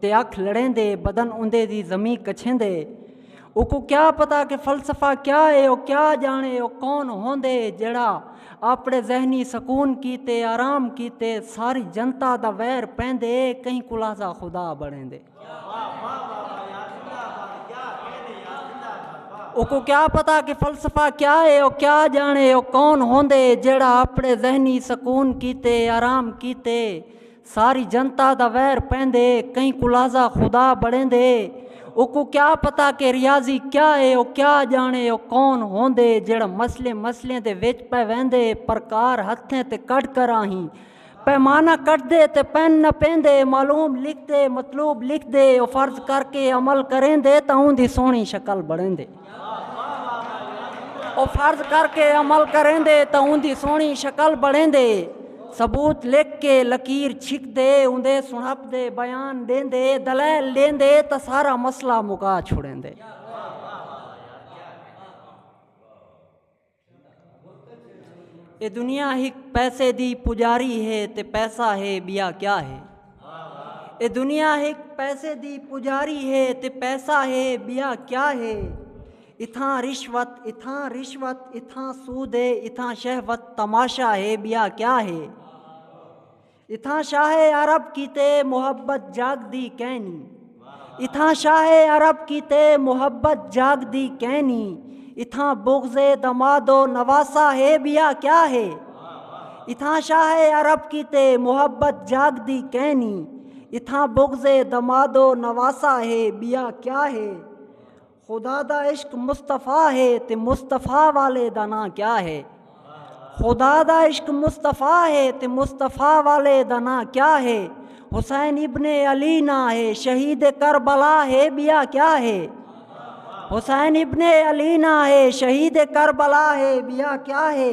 تے اکھ لڑیندے بدن اوندے دی زمین کچھیندے اوکوں کیا پتا کہ فلسفہ کیا ہے او کیا جانے او کون ہوندے جڑا اپنے ذہنی سکون کیتے آرام کیتے ساری جنتا دا ویر پیندے کہیں کلازہ خدا بنیندے اوکوں کیا پتا کہ فلسفہ کیا ہے او کیا جانے او کون ہوندے جڑا اپنے ذہنی سکون کیتے آرام کیتے ساری جنتا دا ویر پیندے کہیں کولازا خدا بڑیندے اوکوں کیا پتا کہ ریاضی کیا اے او کیا جانے او کون ہوندے جیڑھا مسلیں مسلیں دے وچ پے ویندے پرکار ہتھیں تے کڈھ کر آہیں پیمانہ کٹدے تے پین نہ پیندے معلوم لکھدے مطلوب لکھدے او فرض کر کے عمل کریندے تاں اوندی سوہنی شکل بڑیندے۔ او فرض کر کے عمل کریں دے تو ان دی سونی شکل بڑھیں دے ثبوت لکھ کے لکیر چھک دے ان دے سنپ دے بیان دیں دے دلائل دیں دے تو سارا مسئلہ مکا چھوڑیں دے اے دنیا ہک پیسے دی پجاری ہے تے پیسہ ہے بیا کیا ہے اے دنیا ہک پیسے دی پجاری ہے تے پیسہ ہے بیا کیا ہے اتھاں رشوت اتھاں رشوت اتھاں سود ہے اتھاں شہوت تماشا ہے بیا کیا ہے اتھاں شاہ عرب کیتے محبت جاگ دی کینی اتھاں شاہ عرب کیتے محبت جاگ دی کینی اتھاں بغض دمادو نواسا ہے بیا کیا ہے اتھاں شاہ عرب کیتے محبت جاگ دی کینی اتھاں بغض دمادو نواسا ہے بیا کیا ہے خدا دا عشق مصطفی ہے تے مصطفی والے دا نام کیا ہے خدا دا عشق مصطفی ہے تے مصطفی والے دا نام کیا ہے حسین ابن علی نا ہے شہید کربلا ہے بیا کیا ہے حسین ابن علی نا ہے شہید کربلا ہے بیا کیا ہے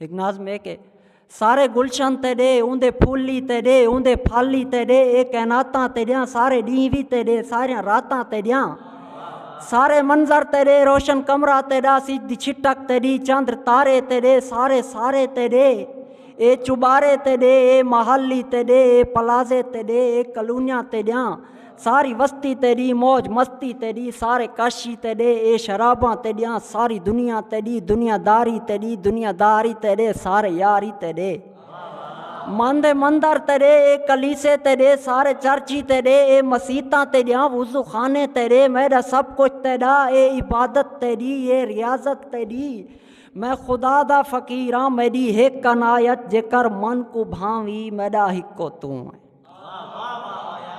ہک ناظم ہے کہ سارے گلشن تے ڈے اوندے پھول ہی تے ڈے اوندے پھل ہی تے ڈے اے کائناتاں تے ڈیاں سارے ڈینہہ وی تے ڈے سارے راتاں تے ڈیاں سارے منظر تے ڈے روشن کمرہ تے ڈا سج دی چھٹک تے ڈی چندر تارے تے ڈے سارے سارے تے ڈے اے چبارے تے ڈے اے محل ہی تے ڈے اے پلازے تے ڈے اے کلونیاں تے ڈیاں ساری وستی تیڈی موج مستی تیڈی سارے کاشی تیڈے اے شراباں تیڈیاں ساری دنیا تیڈی دنیا داری تیڈی دنیا داری تیڈے سارے یاری تیڈے مند مندر تیڈے اے کلیسے تیڈے سارے چرچی تیڈے اے مسیتاں تیڈیاں وضو خانے تیڈے میڈا سب کچھ تیڈا اے عبادت تیڈی اے ریاضت تیڈی میں خدا دا فقیراں میڈی ہک عنایت جے کر من کو بھاوی میڈا ہکو توں ہے